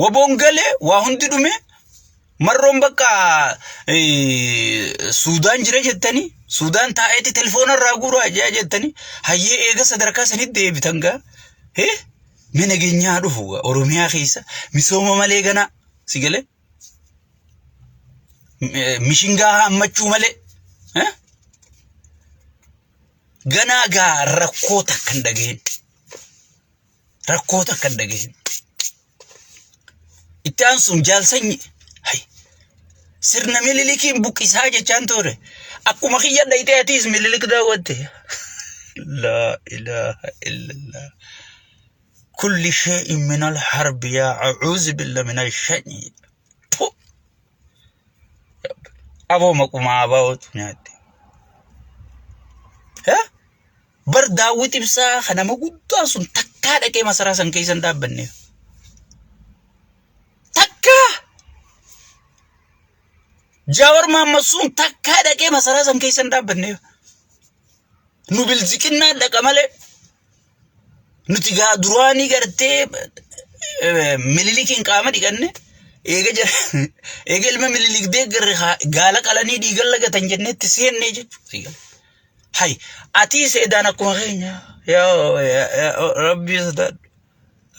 Waboon galee waa hundi dhume marroon bakka Suudaan jira jettanii Suudaan taa'eetti telefoona irraa guuraa ajaa jettanii hayyee eega sadarkaa sanitti deebitan gaa hee mee nageenyaa dhufu gaa Oromiyaa keessa misooma malee ganaa si galee mishingaa hammachuu malee hee ganaa gaa rakkoo takka hin dhageenye. rakkoo takka hin dhageessin. Itti aansuun jaal sanyi hay sirna mililikiin buqqisaa jechaan ture akkuma kiyya dhayitee atiis mililik daawwatte. Laa ilaaha illallah. Kulli shee'in minal harbi yaa a'uuzi billa minal shanii. Puh! Aboo maquma abaa'ootu nyaatte. Bar daawwit ibsaa kan nama guddaan sun takkaa dhaqee masaraa san keessa hin dhaabbanne. Takkaa! Jaawar Mahammad sun takkaa dhaqee masaraa san keessa hin dhaabbanne. Nu bilziqinnaa dhaqa malee nuti gaa duraanii gartee mililikiin qaama dhiqanne eega jira eega ilma mililik deeggarre gaala qalanii dhiigan lagatan jenneetti seennee jechuudha. Hay atii seedaan akkuma keenya yaa yaa- yaa- rabbii sodaadhu.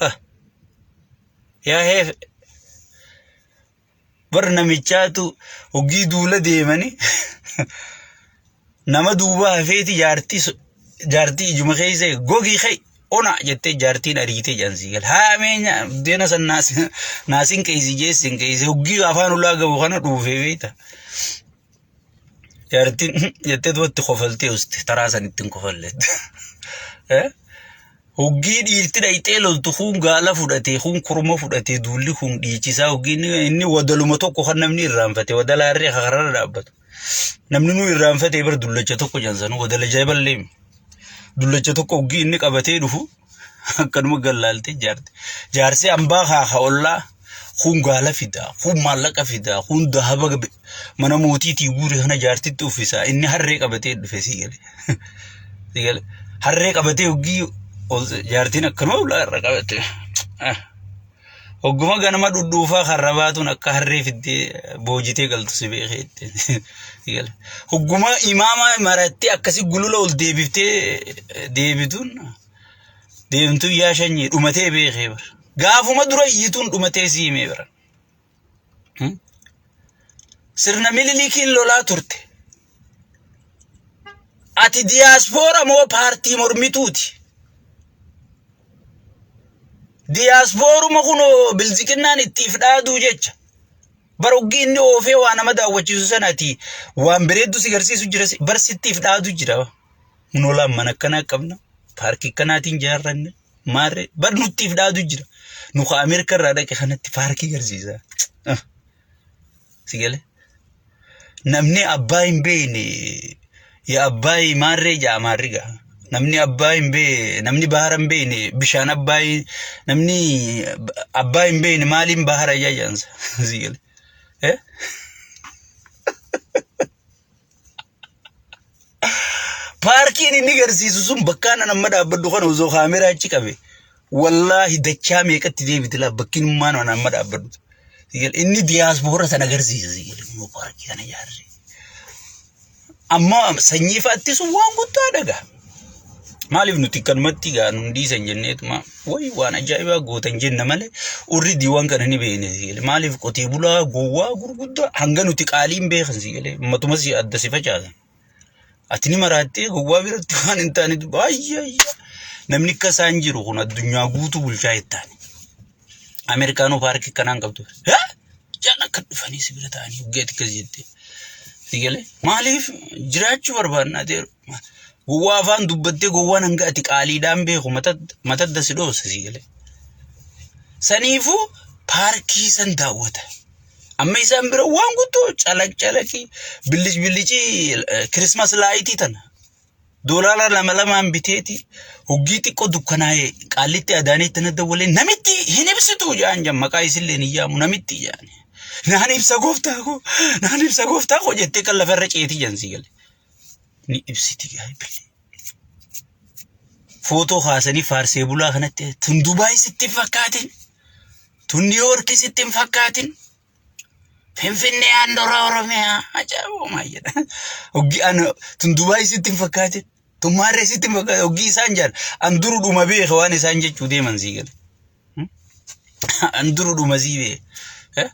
Ah, Yaa heefe bar namichaatu hoggii duula deemani nama duuba hafeeti jaartii so- jaartii ijuma keessa gogii kee ona jettee jaartiin ariitee jaansii gal haameenya deena san naas- naasin keeysi jeessin keeysi hoggii afaan ulaa gabu kana dhuufee beekta. Jaartiin jettee duratti kofaltee uste taraa san ittiin kofalleet. Hoggii dhiirti dhayxee loltu kun gaala fudhatee kun kurma fudhatee duulli kun dhiichisaa hoggii inni wadaluma tokko kan namni irraanfate wadala harree kararra dhaabbatu. Namni nu irraanfate bar dullacha tokko jansanuu wadala jaaballee. Dullacha tokko hoggii inni qabatee dhufu Akkanuma gallaaltee jaarti. Jaarsi ambaa haa haa ollaa kun gaala fidaa, kun maallaqa fidaa, kun dahaba gabe- mana mootiitii guure kana jaartitti uffisaa. Inni harree qabatee dhufe sii gale. Sii gale. Harree qabatee hoggii ol- jaartiin akkanuma ulaa irra qabate. Ah. Hogguma ganama dhudhuufaa karra baatuun akka harree fiddee boojitee galtu si beekee itti. Hogguma imaama marattee akkasi gulula ol deebiftee deebituun deemtuu yaa shanyii dhumatee beekee bara. Gaafuma dura iyyituun dhumatee si himee bara. Sirna Minilikiin lolaa turte. Ati diyaaspoora moo paartii mormituuti? Diyaaspooruma kunoo bilziqinnaan ittiif dhaaduu jecha. Baroggii inni oofee waa nama daawwachiisu sanati waan bareeddu si garsiisu jira barsittiif dhaadu jira. Munolaan mana akkanaa qabna. Paarkii akkanaatiin jaarranne. Maarree bar nuttiif dhaadu jira. Nu ka Ameerika irraa dhaqe kanatti paarkii garsiisa. Si galee? Namni abbaa hin beekne yaa abbaa maarree jaa maarri gaa. Namni abbaa hin beekne namni bahara hin beekne bishaan abbaa namni abbaa hin beekne maaliin bahara yaa jaansa. Si galee? Eh? Paarkiin inni garsiisu sun bakkaan an amma dhaabbadhu kana osoo kaameraa achi qabe wallaahi dachaa meeqatti deebiti laa bakkiin ummaan an amma dhaabbadhu. Inni diyaaspoora sana garsiisa sigilinuu paarkii kana ijaarre. Amma sanyii fa'aattis waan guddaa dhagaa. Maaliif nuti kanumatti gaa nun dhiisan jenneetuma wayi waan ajaa'ibaa gootan jenna malee urri diiwwan kana ni beekne si galee maaliif qotee bulaa gowwaa gurguddaa hanga nuti qaaliin beekan si galee ummatumas adda si facaasan. Ati ni maraattee gowwaa biratti waan hin taane baay'ee namni akka isaan jiru kun addunyaa guutuu bulchaa hin taane. Ameerikaanoo paarkii kanaan qabdu. Jaan akka dhufanii si bira ta'anii hoggeetti akkas jettee. Si galee maaliif jiraachuu barbaannaa ta'eeru. Gowwaa afaan dubbattee gowwaan hanga ati qaaliidhaan beeku matadda si dhoosa si galee. Saniifuu paarkii san daawwata. Amma isaan bira waan guddoo calaq calaqii billic billicii kirismas laayitii tana. Doolaara lama lamaan biteeti hoggii xiqqoo dukkanaa'ee qaallitti adaanee tana dawwalee namitti hin ibsitu jaan jaan maqaa isillee hin yaamu namitti jaan. Naan ibsa gooftaa koo naan ibsa gooftaa koo jettee kan lafarra ceetii jaan si galee. ni ibsiti gaabbillee. Footoo kaasanii faarsee bulaa kanatti tun Dubaay sitti hin fakkaatin. Tun Niiwoorki sitti hin fakkaatin. Finfinnee handhuura Oromiyaa ajaa'iboo maal jedha. Hoggi an tun Dubaay sitti hin fakkaatin. Tun Maarree sitti hin fakkaatin. Hoggi isaan jedhan an durudhuma beeka waan isaan jechuu deeman sii gale. An duru dhuma sii bee. Eh?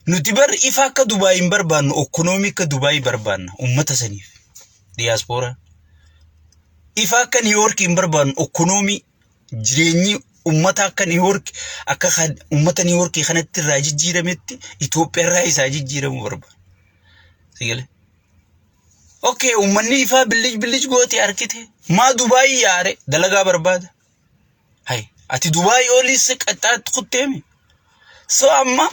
Nuti bar ifa akka Dubaay hin barbaannu, okkonoomii akka Dubaay barbaanna uummata saniif. Diyaaspooraa. Ifa akka Niiwoork hin barbaannu, okkonoomii jireenyi uummata akka Niiwoork akka kan uummata Niiwoorkii kanatti irraa jijjiirametti Itoophiyaa irraa isaa jijjiiramuu barbaanna. Sigale. Okay, uummanni ifaa billij billij goote harkite. Maa Dubaayii yaare dalagaa barbaada. Hay, ati Dubaay oliis qaxxaatti kutteemi. So amma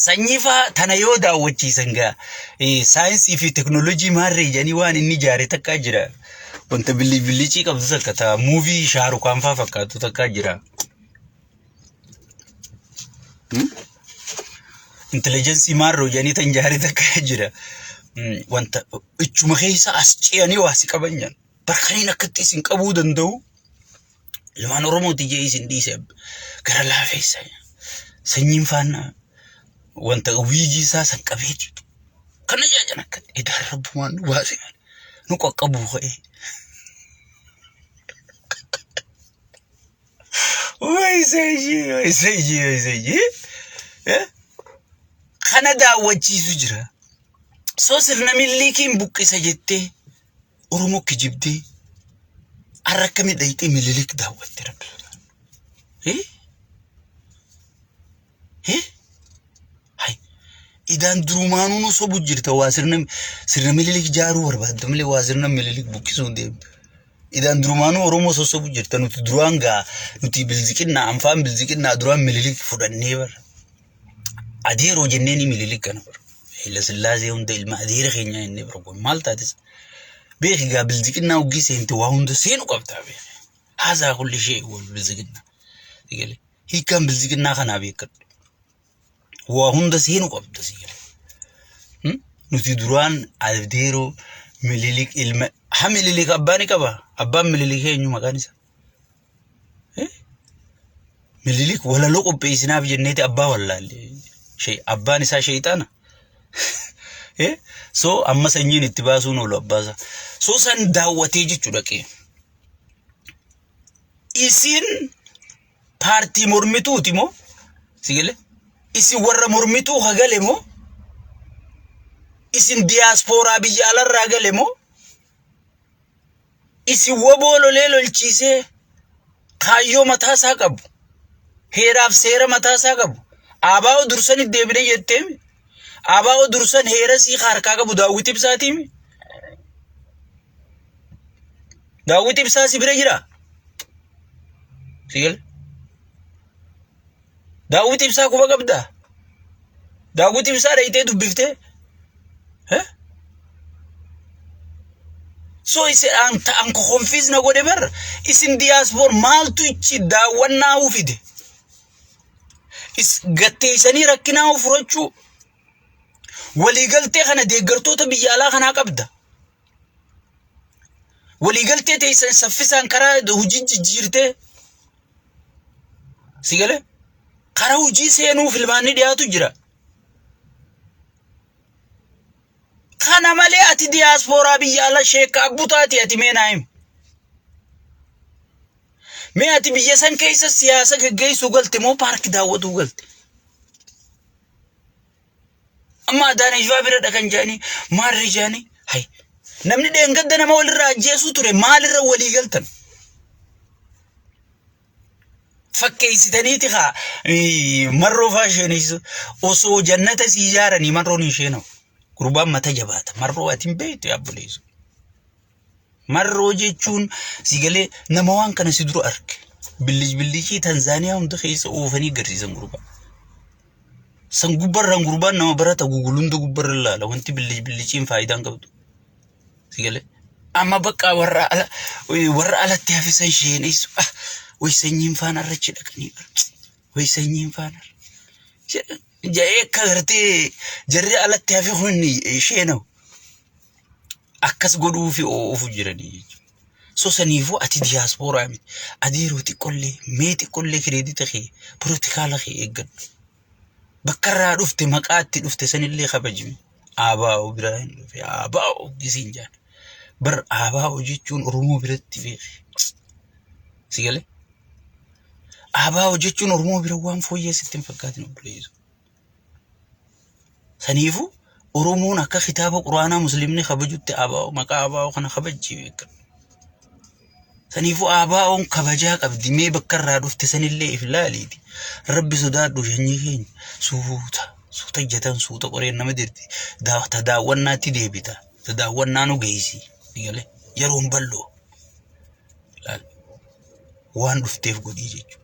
sanyii faa tana yoo daawwachiisan gaa eh, saayinsii fi teknoolojii maarree jedhanii waan inni ijaare takkaa jira. Wanta billi billicii qabdu takka taa muuvii shaarukaan faa fakkaatu takkaa jira. Hmm? Intelligensii maarroo jedhanii tan ijaare takkaa jira. Hmm, Wanta ichuma keessa as ce'anii waa si qaban jedhan. Bara kaniin akkatti isin qabuu danda'u ilmaan Oromooti jee isin dhiise gara laafeessa. Sanyiin faana wanta wiigii isaa san qabee jiru. Kana jaajan akka idaa rabbumaan nu baase malee nu qaqqabuu ka'ee. Wai seji, wai seji, wai seji. Eh? Kana daawwachiisu jira. So sirna milliikiin buqqisa jettee Oromoo kijibdee har'a akkamii dhayxee mililik daawwatte rabbi sodaadhu. Hee? Hee? Hay. Idaan durumaanuu nu sobu jirta waa sirna sirna mililik jaaruu barbaadda malee waa sirna mililik buqqisuu hin deemtu. Idaan durumaanuu Oromoo sossobu jirta nuti duraan gaa nuti bilziqinnaa anfaan bilziqinnaa duraan mililik fudhannee bara. Adeeroo jennee ni mililik kana bara. Hayila Sillaasee hunda ilma adeera keenyaa inni bara kun maal taatis. Beeki gaa bilziqinnaa hoggii seente waa hunda seenu qabdaa beeki. Haasaa kulli ishee wal bilziqinnaa. Sigalee hiikkaan bilziqinnaa kanaa beekadhu. Waa hunda seenu qabda sigalee. Hmm? Nuti duraan adeeroo mililik ilma ha mililik abbaa ni qaba. Abbaan mililik eenyu maqaan isaa? Minilik walaloo qopheessinaaf jenneeti abbaa wallaalle. Shee- Abbaan isaa sheexaana. Eh, So amma sanyiin itti baasuun oolu abbaa isaa. So san daawwatee jechuu dhaqee. Isin paartii mormituuti moo? Si galee? Isin warra mormituu hagale moo? Isin diyaaspooraa biyya alarraa gale moo? Isin waboo lolee lolchiisee kaayyoo mataa isaa qabu. Heeraaf seera mataa isaa qabu. Abaa'oo dursan itti deebine jetteemi. Abaa'oo dursan heera sii harkaa qabu daawwiti ibsaatiimi. Daawwiti ibsaa si bira jira. Sigal. Daawwiti ibsaa quba qabdaa? Daawwiti ibsaa dhayitee dubbiftee? So isin an ta'an konfiis na godhe bar isin diyaaspoor maaltu ichi daawwannaa huu fide? Is gatteessanii rakkinaa huu furachuu waliigaltee kana deeggartoota biyya alaa kanaa qabda. waliigaltee teessan saffisaan karaa hojii jijjiirtee si galee karaa hojii seenuu filmaanni dhiyaatu jira. Kana malee ati diyaaspooraa biyya ala sheekka abbutaati ati mee naa himi. Mee ati biyya san keessa siyaasa geggeessuu galte moo paarkii daawwatuu galte? Amma Adaanee Shawaa biradha kan jedhanii maal rijaanii? Hay namni dheengadda nama walirraa ajjeesuu ture maalirra walii galtan? Fakkeessitaniiti haa marroo faa isheenis osoo jannata sii ijaaranii marroon hin isheenamu. Gurbaan mata jabaata marroo ati hin beektu yaa buleessu. Marroo jechuun si galee nama waan kana si dura arge. Billij billijii Tanzaaniyaa hunda keessa oofanii garsiisan gurbaa. San gubbarraan gurbaan nama barata gugul hunda gubbarra ilaala wanti billij billijiin faayidaan qabdu. Si galee. Amma bakka warra ala warra alatti hafisan sheeneessu. Ah, way sanyiin faana irra achi dhaqanii bara. Way sanyiin faana irra. Ja'ee akka gartee jarri alatti hafe kun sheenawu. akkas godhuufi oofu jiranii jechuudha. So saniifuu ati diyaaspooraa miti. Ati yeroo xiqqollee mee xiqqollee kireedita kee pirotikaala kee eeggadhu. Bakka irraa dhufte maqaa itti dhufte sanillee kabajimi. Abaa'u biraa hin dhufe abaa'u gisiin jaan. Bar abaa'u jechuun Oromoo biratti beeki. Si galee? Abaa'u jechuun Oromoo bira waan fooyyee sitti hin fakkaatin obboleessa. Saniifu Oromoon akka kitaaba Quraanaa Musliimni kabajutti abaa'oo maqaa abaa'oo kana kabajjii beekan. Saniifu abaa'oon kabajaa qabdi mee bakka irraa dhufte sanillee if laaliiti. Rabbi sodaadhu shanyii keenya suuta suuta jatan suuta qoreen nama dirti daa- ta daawwannaatti deebita ta daawwannaa nu geessi galee yeroon bal'oo laal waan dhufteef godhii jechuudha.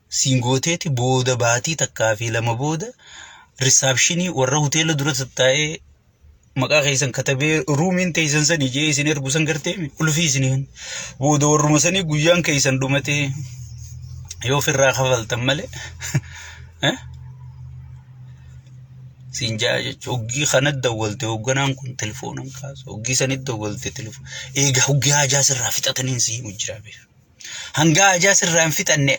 siin gooteeti booda baatii takkaa fi lama booda risaapshinii warra hoteela dura tattaa'ee maqaa keessan katabee ruumiin teessan sanii jee isin ergu san garteemi ulfii isiniin booda warruma sanii guyyaan keessan dhumatee yoo ofirraa kafaltan malee eh? siin jaa jechuun hoggii kana dawwalte hoogganaan kun telefoonaan kaasu hoggii sanitti dawwalte telefoon eegaa hoggii haajaa sirraa fixataniin siin hojjiraa beeku. Hangaa ajaa sirraa hin fixanne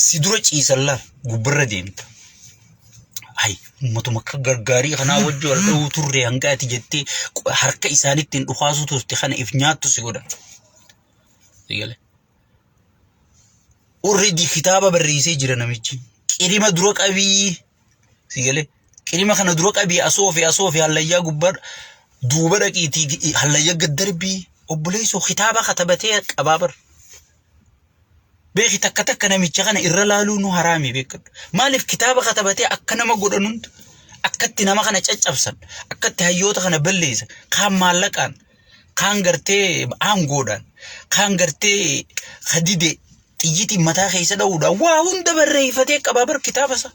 si dura ciisallaaf gubbarra deemta. Hay ummatuma akka gargaarii kanaa wajji wal dha'uu turre hangaa ati jettee qo- harka isaanitti hin dhukaasuu turte kana if nyaattu si godha. Si gale? Already kitaaba barreessee jira namichi. Qirima dura qabii si gale? Qilima kana dura qabii asoofi asoofi hallayyaa gubbaa duuba dhaqiitii hallayya gad darbii obboleessoo kitaaba katabatee qabaa bar. Beeki takka takka namicha kana irra laaluu nu haraami beekadhu. Maaliif kitaaba katabatee akka nama godhan hunda akkatti nama kana caccabsan akkatti hayyoota kana balleessan kaan maallaqaan kaan gartee aangoodhaan kaan gartee hadidee xiyyitiin mataa keessa dha'uudhaan waa hunda barreeffatee qabaa bar kitaaba isaa.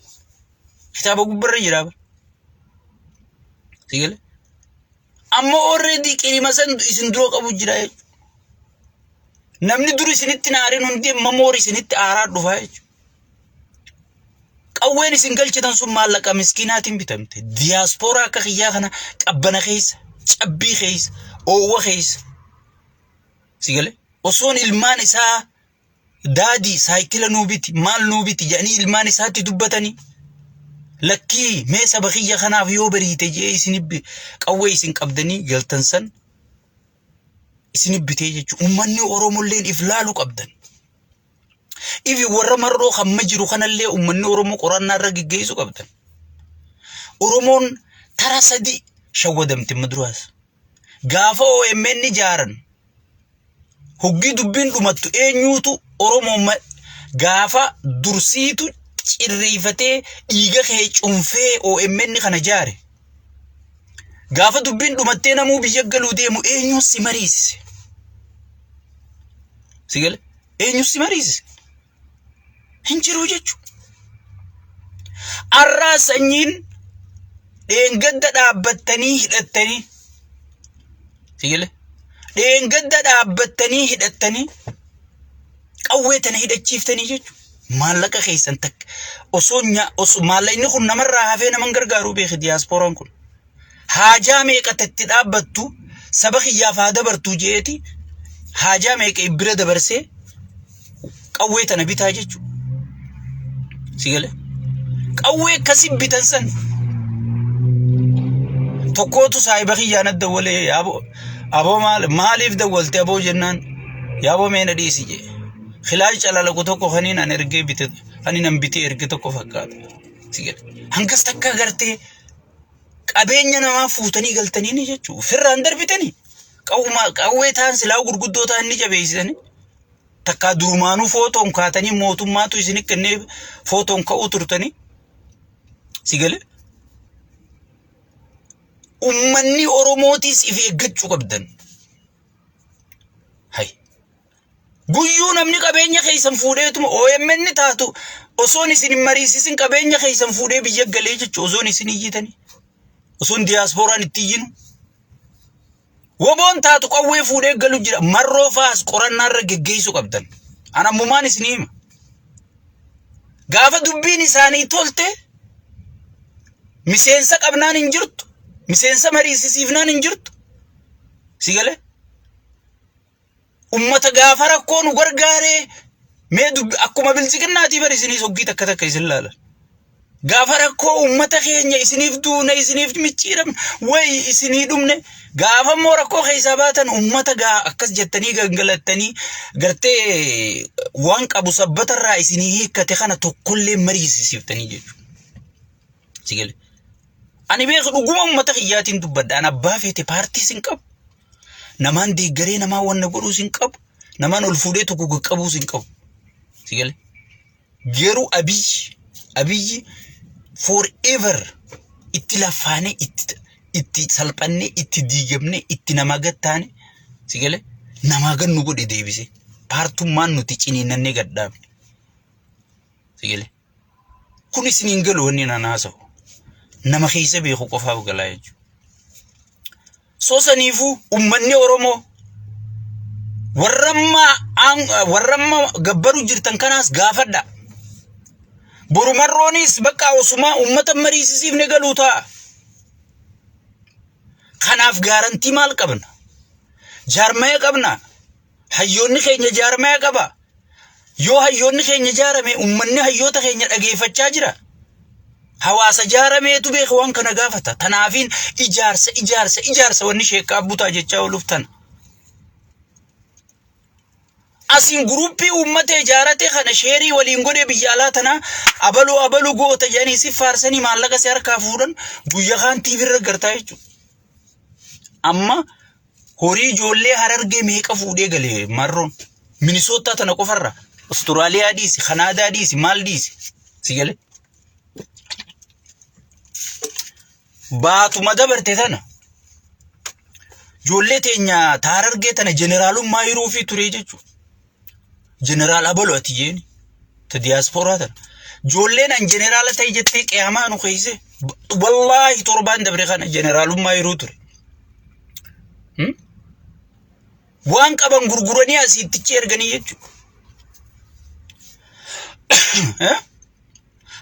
kitaaba gubbarra jira bar sigale amma already qirima san isin dura qabu jira jechuudha namni dur isinitti naarin hundi amma moor isinitti aaraa dhufa jechuudha qawween isin galchitan sun maallaqa miskiinaatiin bitamte diyaaspooraa akka kiyyaa kana qabbana keessa cabbii keessa oowwa keessa sigale osoon ilmaan isaa daadii saayikila nuu biti maal nuu biti jedhanii ilmaan isaatti dubbatanii lakkii mee saba kiyya kanaaf yoo bariite jee isin qawwee isin qabdanii galtan san isin bitee jechuudha. Uummanni Oromolleen if laalu qabdan. Ifi warra marroo kan ma jiru kanallee uummanni Oromoo qorannaa irra geggeessu qabdan. Oromoon tara sadii shawwadamte maduraas. Gaafa OMN ijaaran hoggii dubbiin dhumattu eenyuutu Oromoon ma- gaafa dursiitu cirreeffatee dhiiga kee cunfee OMN kana jaare. Gaafa dubbiin dhumattee namuu biyya galuu deemu eenyuun si mariisise? Si gale? Eenyuun si mariisise? hin jiru jechuudha. Arraa sanyiin dheengadda dhaabbattanii hidhattanii sigilee dheengadda dhaabbattanii hidhattanii qawwee tana hidhachiiftanii jechuudha. Maallaqa keessan takka osoo nyaa osoo maallaqni kun namarraa hafee naman gargaaru beeki diyaaspooraan kun. haajaa meeqatti itti dhaabbattu saba kiyyaaf haa dabartu jeeti haajaa meeqa bira dabarsee qawwee tana bitaa jechuudha. Si galee? Qawwee akkasii bitan san tokkootu saahiba kiyyaan adda walee yaaboo aboo maal maaliif dawwalte aboo jennaan yaaboo meena dhiisi jee kilaash calalaqu tokko kaniin an ergee bite kaniin an bitee erge tokko fakkaata si gale hangas takka gartee qabeenya namaa fuutanii galtanii ni jechuu ofirraan darbitanii qawwumaa qawwee ta'an silaa gurguddoo ta'an ni jabeessitanii takkaa durumaanuu footoon kaatanii mootummaatu isin kennee footoon ka'uu turtanii si galee ummanni oromootiis if eeggachuu qabdan. Hai. Guyyuu namni qabeenya keessan fuudheetuma OMN taatu osoon isin hin mariisisin qabeenya keessan fuudhee biyya galee jechu osoon isin iyyitanii. Osoon diyaaspooraan itti iyyinu. Woboon taatu qawwee fuudhee galu jira. Marroo faas qorannaarra geggeessuu qabdan. An ammumaan isin hima. Gaafa dubbiin isaanii tolte miseensa qabnaan hin jirtu. Miseensa mariisisiifnaan hin jirtu. Si galee? ummata gaafa rakkoo nu gargaaree mee dubbi akkuma bilchiqinnaatii bar isiniis hoggii takka takka isin laala. Gaafa rakkoo ummata keenya isiniif duune isiniif micciiramne wayi isinii dhumne gaafa immoo rakkoo keessaa baatan ummata gaa akkas jettanii gangalattanii gartee waan qabu sabbatarraa isinii hiikkate kana tokkollee mariisisiiftanii jechuudha. Sigale. Ani beeku dhuguma ummata kiyyaatiin dubbadha. Ani abbaa feete paartiis hin qabu. Namaan deeggaree namaa wanna godhuus hin qabu. Namaan ol fuudhee tokko qaqqabuus hin qabu. Si galee? Garuu abiyyi abiyyi forever itti laffaanee itti itti salphannee itti diigamnee itti namaa gad taane si galee namaa gad nu godhe deebisee paartummaan nuti ciniinnannee gad dhaabne si galee. Kun isin hin galu wanni naan haasa'u. Nama keessa beeku qofaaf galaa jechuudha. Sosaniifuu uummanni Oromoo warramma gabbaru jirtan kanaas gaafadha. Borumarroonis bakka osumaa uummata mariisisiifne galuu ta'a. Kanaaf gaarantii maal qabna? Jaarmaya qabna? Hayyoonni keenya jaarmaya qaba. Yoo hayyoonni keenya jaarame ummanni hayyoota keenya dhageeffachaa jira. Hawaasa jaarameetu beeka waan kana gaafata. Tanaafiin ijaarsa ijaarsa ijaarsa wanni sheekkaa butaa jechaa ooluuf tana. Asiin guruppii uummata ijaarate kana sheerii waliin godhee biyya alaa tanaa abaluu abaluu goota jedhanii si faarsanii maallaqa si harkaa fuudhan guyya kaan TV irra gartaa jechuudha. Amma Horii ijoollee harargee meeqa fuudhee gale marroon. Minisoottaa tana qofarra. Awustiraaliyaa dhiisi, Kanaadaa dhiisi, maal dhiisi. Si galee. Baatuma dabarte tana. Ijoollee teenya taarargee tana jeneraalummaa hiruufii ture jechuudha. Jeneraal Abalu ati jeeni. Ta diyaaspooraa tan. Joolleen an jeneraala ta'e jettee qiyaamaa nu keeyse. Wallaahi torbaan dabre kana jeneraalummaa yeroo ture. Hmm? Waan qaban gurguranii asiittichi erganii jechuudha. Eh?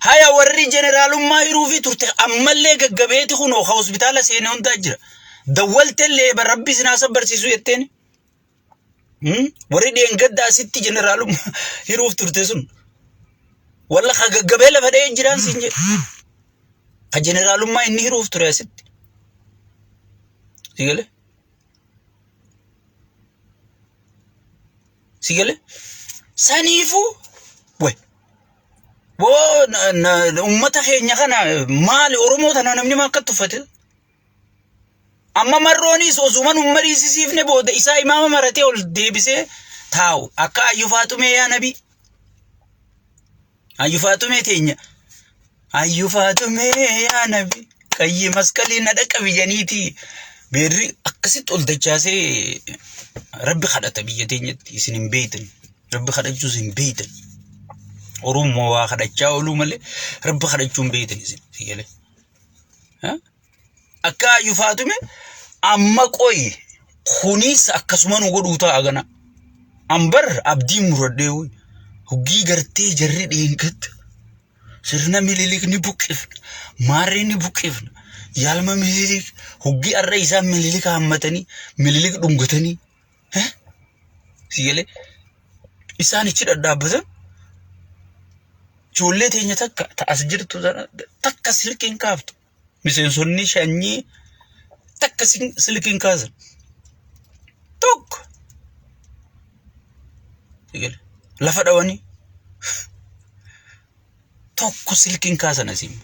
Haya warri jeneraalummaa hiruufi turte ammallee gaggabeeti kunoo ka hospitaala seenee hundaa jira. Dawwaltellee barabbi sinaa sabbarsiisu jetteen. Warri dheengadda asitti jeneraalummaa hiruuf turte sun walla ka gaggabee lafa dha'ee jiraan siin jedhe. Ka jeneraalummaa inni hiruuf ture asitti. Sigale? Sigale? Saniifuu way woo uummata keenya kana maali Oromoo tana namni maa akka tuffate Amma marroonis osuma nun mariisisiifne booda isaa imaama maratee ol deebisee taa'u. Akka ayyu faaxumee yaa nabi. Ayyu faaxumee teenya. Ayyu faaxumee yaa nabi. Qayyi masqalii na dhaqabi janiiti. Beerri akkasitti ol dachaasee rabbi kadhata biyya teenyatti isin hin beeytan. Rabbi kadhachuus hin beeytan. Oromoo waa kadhachaa ooluu malee rabbi kadhachuu hin beeytan isin. Akka ayyu faatume amma qoyi kunis akkasuma nu godhuu ta'a gana. Ambar abdii muradhee woy. Huggii gartee jarri dheengadda. Sirna mililik ni buqqifna. Maarree ni buqqifna. Yaalma mililik huggii har'a isaan mililik haammatanii mililik dhungatanii Siigalee isaan ichi dhadhaabbatan ijoollee teenya takka ta'as jirtu takka silkiin kaaftu miseensonni shanyii takka silkiin kaasan tokko lafa dhawanii tokko silkiin kaasan asiin.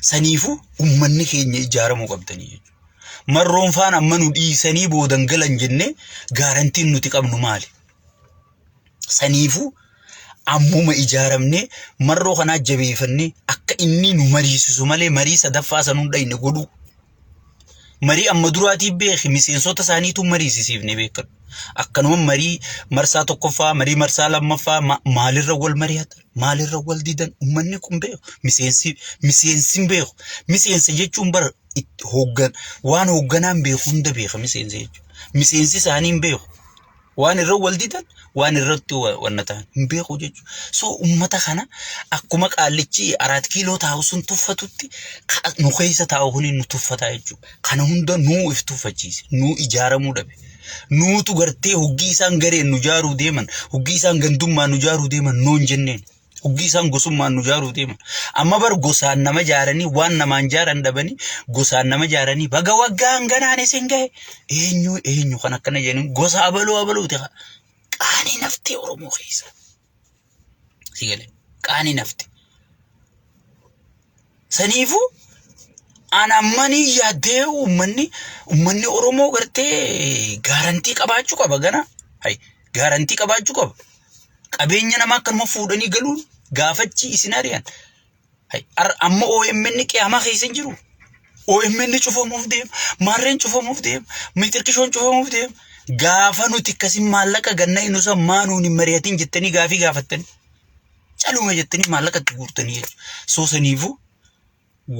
Saniifu ummanni keenya ijaaramuu qabdanii jechuudha. Marroon faan amma nu dhiisanii boodan galan jennee gaarantiin nuti qabnu maali? Saniifu ammuma ijaaramnee marroo kanaa jabeeffannee akka inni nu mariisisu malee marii sadaffaa san hunda inni godhuu. Marii amma duraatii beeki miseensota isaaniitu mariisisiifne beekadhu. Akkanuma marii marsaa tokkoffaa, marii marsaa lammaffaa ma- maalirra wal mari'atan, maalirra wal didan uummanni kun beeku. Miseensi miseensi hin beeku. Miseensa jechuun bara itti hooggan waan hoogganaan beeku hunda beeka miseensa jechuudha. Miseensi isaanii hin beeku. Waan irra wal didan waan irratti wanna ta'an hin beeku jechuudha. So uummata kana akkuma qaallichi araat kiiloo taa'u sun tuffatutti nu keessa taa'u kuni nu tuffataa jechuudha. Kana hunda nuu if tuffachiise nuu ijaaramuu dhabe. Nuutu gartee hoggii isaan gareen nu jaaruu deeman hoggii isaan gandummaa nu jaaruu deeman noon jenneen. Dhuggii isaan gosummaan nu jaaruu deema. Amma bar gosaan nama jaaranii waan namaan jaaran dhabanii gosaan nama jaaranii baga waggaan ganaan isin gahe eenyu eenyu kan akkana jedhanii gosa abaluu abaluuti haa. Qaanii naftee Oromoo keessa. Si galee qaanii naftee. Saniifuu an ammanii yaaddee uummanni uummanni Oromoo gartee gaarantii qabaachuu qaba gana. Hay gaarantii qabaachuu qaba. Qabeenya namaa akkanuma fuudhanii galuun gaafachi isin ari'an. Hay ar- amma OMN qiyaamaa keessa hin jiru. OMN cufamuuf deema. Maarreen cufamuuf deema. Mitirkishoon cufamuuf deema. Gaafa nuti akkasiin maallaqa ganna hin usan maa nuun hin mari'atin jettanii gaafii gaafattanii. caluma jettanii maallaqa itti guurtanii jechuudha. Soo saniifuu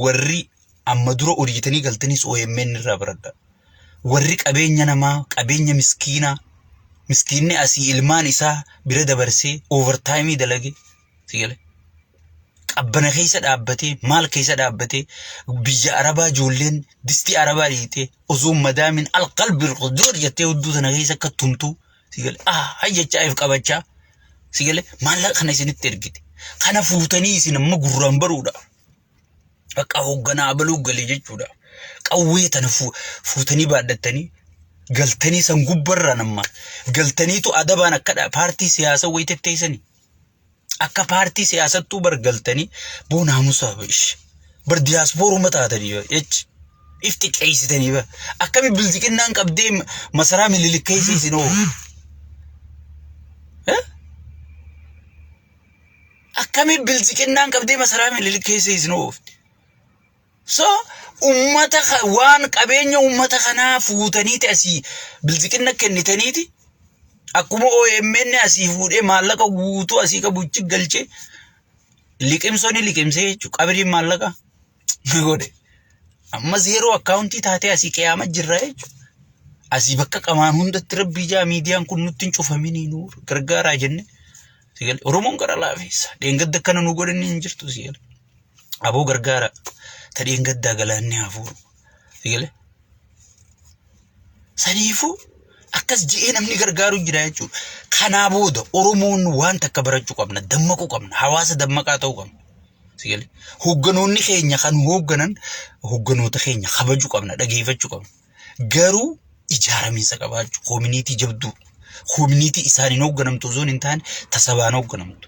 warri amma dura hojjetanii galtaniis OMN irraa baradha. Warri qabeenya namaa qabeenya miskiinaa miskiinni asii ilmaan isaa bira dabarsee overtime dalage si gale. Qabbana keessa dhaabbatee maal keessa dhaabbatee biyya arabaa ijoolleen distii arabaa dhiitee osoo madaamin alqalbi qudur jettee hudduu sana keessa akka tumtuu Sigale ah jechaa if qabachaa sigale maallaqa kana isinitti ergite. Kana fuutanii isin amma gurraan baruudha. Bakka hoogganaa abaluu galee jechuudha. Qawwee tana fu- fuutanii baadhattanii galtanii san gubbarraan amma galtaniitu adabaan akkadha paartii siyaasaa wayiteef teessanii. Akka paartii siyaasattuu bar galtanii boo naamusaa bar ish. Bar diyaaspooruma taatanii bar ech. If xiqqeessitanii bar. Akkami bilziqinnaan qabdee ma- masaraa mililikkeessi isin hoo. Eh? Akkami bilziqinnaan qabdee masaraa mililikkeessi isin hoofti. So ummata ka- waan qabeenya ummata kanaa fuutaniiti asii bilziqinna kennitaniiti akkuma OMN asii fuudhee maallaqa guutuu asii qabuchi galchee liqimsoni liqimsee jechuudha qabiriin maallaqa ni godhe amma zeeroo akkaawuntii taatee asii qiyaama jirra jechuudha. Asii bakka qamaan hundatti rabbii jaa miidiyaan kun nutti hin cufaminii nu gargaaraa jenne. Sigal Oromoon gara laafeessa. Dheengadda akkana nu godhanni hin jirtu sigal. aboo gargaara tadheen gaddaa galaanni hafuuru sigale saniifuu akkas je'ee namni gargaaru jira jechuudha kanaa booda oromoon waan takka barachuu qabna dammaquu qabna hawaasa dammaqaa ta'uu qabna sigale hogganoonni keenya kan hoogganan hogganoota keenya kabajuu qabna dhageeffachuu qabna garuu ijaaramiinsa qabaachuu koominiitii jabduu koominiitii isaaniin hoogganamtu osoo hin taane tasabaan hoogganamtu